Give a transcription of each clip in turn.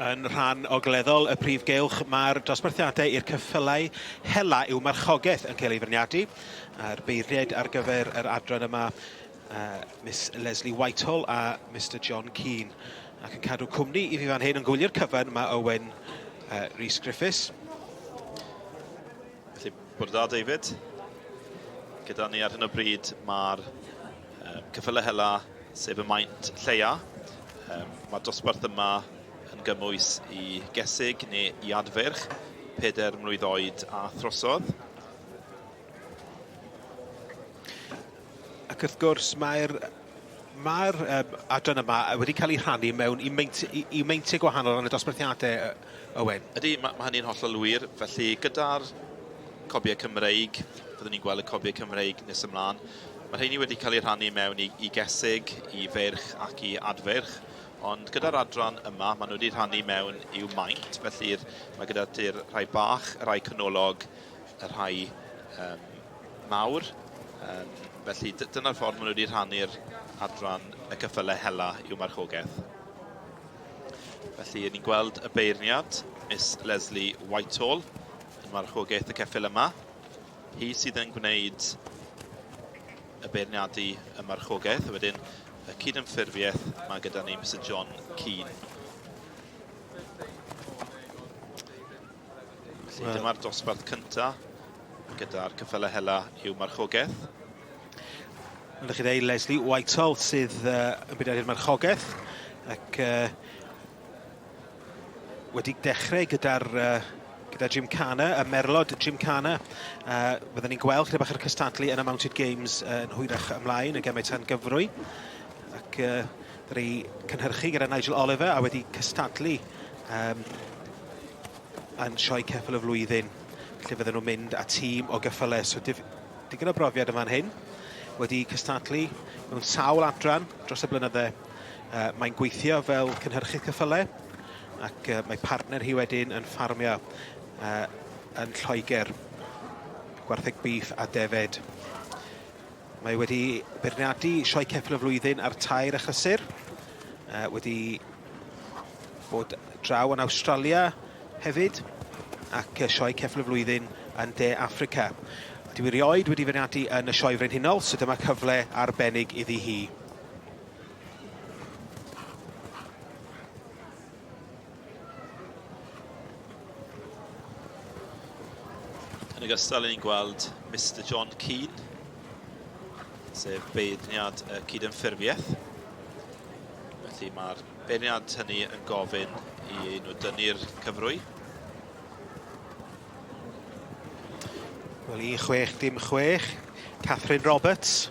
Yn rhan ogleddol y prif gylch, mae'r dosbarthiadau i'r cyffylau hela i'w marchogaeth yn cael ei fyrniadu. A'r beirniaid ar gyfer yr adran yma, uh, Miss Leslie Whitehall a Mr John Keane. Ac yn cadw cwmni i fi fan hyn yn gwylio'r cyfan, mae Owen uh, Rhys Griffiths. Felly, bod da David. Gyda ni ar hyn o bryd mae'r um, cyffyle hela, sef y maint lleia. Um, mae'r dosbarth yma yn gymwys i gesig neu i adferch, peder mlwydd oed a throsodd. Ac wrth gwrs, mae'r Mae'r um, adran yma wedi cael ei rhannu mewn i meintiau, i, i meintiau gwahanol ran y dosbarthiadau, Owen. Ydy, mae, mae hynny'n hollol wir. Felly, gyda'r cobiau Cymreig, fyddwn ni'n gweld y cobiau Cymreig nes ymlaen. Mae rheini wedi cael ei rhannu mewn i, i gesig, i feirch ac i adfeirch. Ond gyda'r adran yma, maen nhw wedi rhannu mewn i'w maint, felly mae gyda ti'r rhai bach, y rhai canolog, y rhai um, mawr. Yym felly dy- dyna'r ffordd maen nhw wedi rhannu'r adran y cyffyle hela i'w marchogaeth. Felly, ni'n gweld y beirniad, Miss Leslie Whitehall, yn marchogaeth y ceffyl yma. Hi sydd yn gwneud y beirniadu y marchogaeth, a wedyn y cydymffurfiaeth mae gyda ni, Mr John Keane. Felly well. dyma'r dosbarth cynta gyda'r cyffele hela i'w marchogaeth. Ydych chi ddeu Leslie Whitehall sydd uh, yn byd ar marchogaeth ac uh, wedi dechrau gyda'r uh, gyda Jim Cana, y merlod Jim Cana. Uh, Byddwn ni'n gweld chyda bach yr cystadlu yn y Mounted Games uh, yn hwyrach ymlaen, y gemau tan gyfrwy. Ac uh, Wedi cynhyrchu gyda Nigel Oliver a wedi cystadlu um, yn sioe ceffyl y flwyddyn lle fydden nhw'n mynd â tîm o geffylau. So dif, digon o brofiad yn fan hyn. Wedi cystadlu mewn sawl adran dros y blynyddau. Uh, mae'n gweithio fel cynhyrchydd cyffylau ac uh, mae partner hi wedyn yn ffarmio uh, yn Lloegr, gwartheg bîff a defed. Mae wedi beirniadu sioe ceffyl y flwyddyn a'r tair achysur. Uh, wedi bod draw yn Awstralia hefyd ac sioe ceffyl y flwyddyn yn De Africa. Dwi erioed wedi feirniadu yn y sioe frenhinol, so dyma cyfle arbennig iddi hi. Yn ogystal, ni'n gweld Mr John Keane, sef beirniad y cydymffurfiaeth. Felly mae'r beirniad hynny yn gofyn i nhw dynnu'r cyfrwy. Wel, i chwech dim chwech, Catherine Roberts.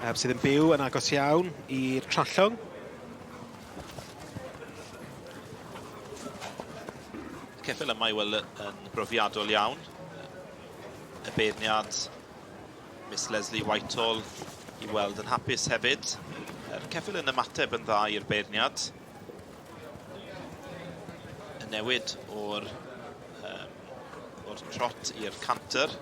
Um, sydd yn byw yn agos iawn i'r trallwng. Ceffil yma i weld yn brofiadol iawn. Y beirniad Miss Leslie Whitehall i weld yn hapus hefyd. Yr ceffil yn ymateb yn dda i'r beirniad. Y newid o'r um, o'r trot i'r canter.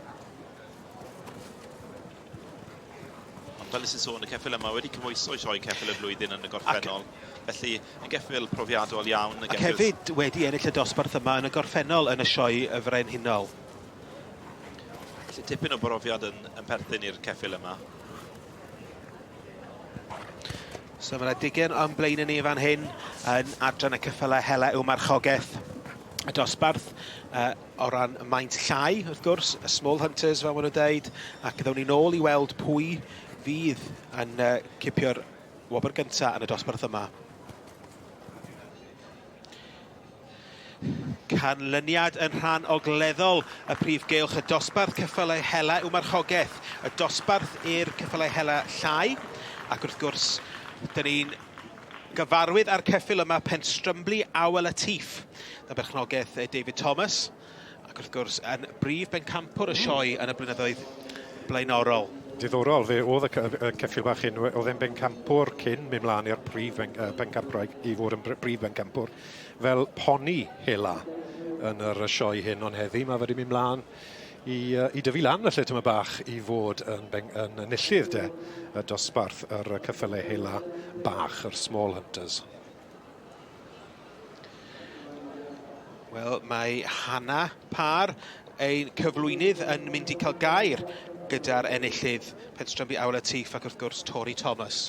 Ond fel nes i'n sôn, y ceffyl yma wedi cymwyso i sioe ceffyl y flwyddyn yn y gorffennol. Ac... Felly, yn geffyl profiadol iawn. Yn geffyl... Ac hefyd wedi ennill y dosbarth yma yn y gorffennol yn y sioe y frenhinol. Felly tipyn o brofiad yn, yn perthyn i'r ceffyl yma. So mae yna digen o'n blaen yn ni fan hyn yn adran y cyffylau hela yw marchogaeth y dosbarth. Uh, O ran y maint llai, wrth gwrs, y small hunters fel maen nhw'n deud, ac ddawn ni'n ôl i weld pwy fydd yn uh, cipio'r wobr gyntaf yn y dosbarth yma. canlyniad yn rhan ogleddol y prif geilch y dosbarth cyffylau hela yw marchogaeth, y dosbarth i'r cyffylau hela llai, ac wrth gwrs, dyn ni'n Gyfarwydd â'r ceffyl yma Penstrymli Aw El Atif, dan berchnogaeth David Thomas, ac wrth gwrs yn brif bencampwr y sioe yn y blynyddoedd blaenorol. Diddorol, fe oedd y ceffyl bach hyn, oedd e'n bencampwr cyn mynd mlaen i'r prif bencampwraig i fod yn brif bencampwr fel poni hela yn yr sioe hyn, ond heddi mae wedi mynd mlaen i, uh, i dyfu lan felly tyma bach i fod yn, beng, yn enillydd de y dosbarth yr cyffyle hela bach, yr Small Hunters. Wel, mae Hanna Par, ein cyflwynydd, yn mynd i cael gair gyda'r enillydd Penstrambu Awyl y Tîff ac wrth gwrs Tori Thomas.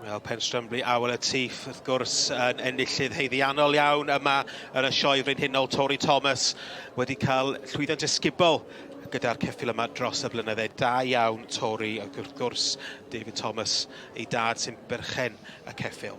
Wel, Penstrymblu Awel y Tîff, wrth gwrs, yn enillydd heiddiannol iawn yma yn y Sioe Frenhinol. Tori Thomas wedi cael llwyddiant ysgubol gyda'r ceffil yma dros y blynydde. Da iawn, Tori, ac wrth gwrs, David Thomas, ei dad sy'n berchen y ceffil.